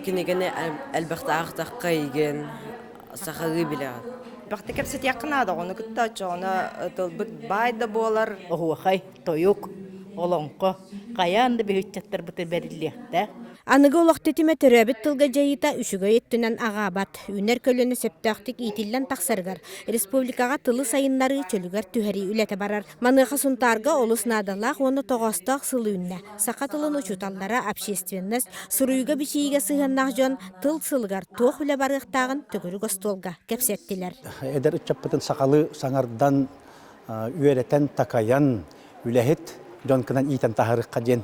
Кинигэни элбэхтэ аахтахха игин, сахалыы билэҕин. Бакты кэпсэтиэххэ наада оҕону кытта оччоҕуна тылбыт баай да буолар. Оһуохай, тойук, олоҥхо хайаан да бүһүччаттарбыты бэриллиэхтээх. Аныгы олох тэтимэ төрөөбүт тылга дьайыыта үчүгэй өттүнэн аҕаабат. Үүнэр көлүөнэ сөптөөхтүк иитиллэн тахсарыгар республикаҕа тылы сайыннарыы чөлүгэр түһэрии үлэтэ барар. Маныаха Сунтаарга олус наадалаах уонна тоҕоостоох сыл үүннэ. Саха тылын учууталлара общественность суруйууга-бичийиигэ сыһыаннаах дьон тыл сылыгар туох үлэ барыахтааҕын төгүрүк остуолга кэпсэттилэр. Эдэр ыччаппытын сахалыы саҥардан, үөрэтэн, такайан, үлэһит дьон гынан иитэн таһаарыахха диэн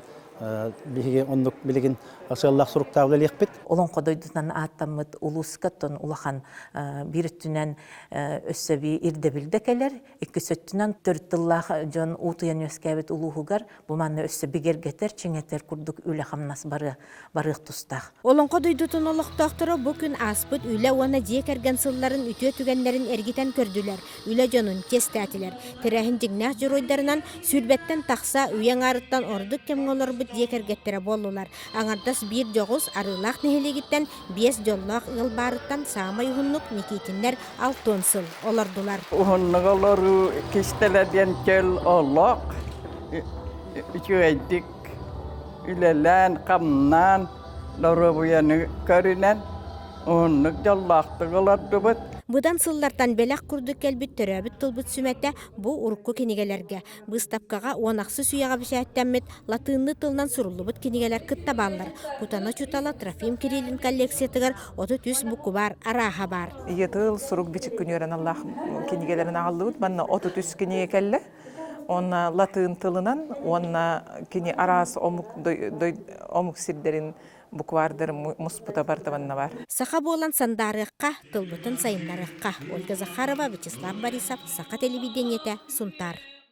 биһиги оннук билигин сыаллаах-суруктаах үлэлиэхпит. Олоҥхо дойдутунан ааттаммыт улууска тон улахан биир өттүнэн өссө ирдэбил да кэлэр, иккис өттүнэн төрүт тыллаах дьон уутуйан үөскээбит улууһугар бу манна өссө бигэргэтэр, чиҥэтэр курдук үлэ-хамнас барыа барыах тустаах. Олоҥхо дойдутун олохтоохторо бу күн ааспыт үлэ уонна дьиэ кэргэн сылларын үтүө түгэннэрин эргитэн көрдүлэр, үлэ дьонун чиэстээтилэр. Тэрээһин дьиҥнээх дьоруойдарынан сүүрбэттэн тахса үйэ аҥаарыттан ордук кэмҥэ олорбут дьиэ кэргэттэрэ буоллулар. Аҥардас биир дьоҕус Арыылаах нэһилиэгиттэн Биэс дьоллоох ыал баарыттан саамай уһуннук Никитиннэр алтыан сыл олордулар. Уһуннук-олоруу кистэлэ диэн чөл олох үчүгэйдик үлэлээн-хамнаан, доруобуйаны көрүнэн уһуннук дьоллоохтук олордубут. Быдан сыллартан бэлэх курдук кэлбит төрөөбүт тылбыт сүмэтэ бу урукку кинигэлэргэ, Быыстапкаҕа уон ахсыс үйэҕэ бэчээттэммит латыынныы тылынан суруллубут кинигэлэр кытта бааллар. Кутана Чутала Трофим Кириллин коллекциятыгар отут үс букубаар арааһа баар. Ийэ тыл сурук-бичик күнүөрэн аллаах кинигэлэрин аҕаллыбыт. Манна отут үс кинигэ кэллэ. Уонна латыын тылынан уонна кини араас омук омук сирдэрин букваардарын муспута бартабанна бар. Саха буолан сандаарыахха, тылбытын сайыннарыахха. Ольга Захарова, Вячеслав Борисов, Саха телевидениетэ, Сунтаар.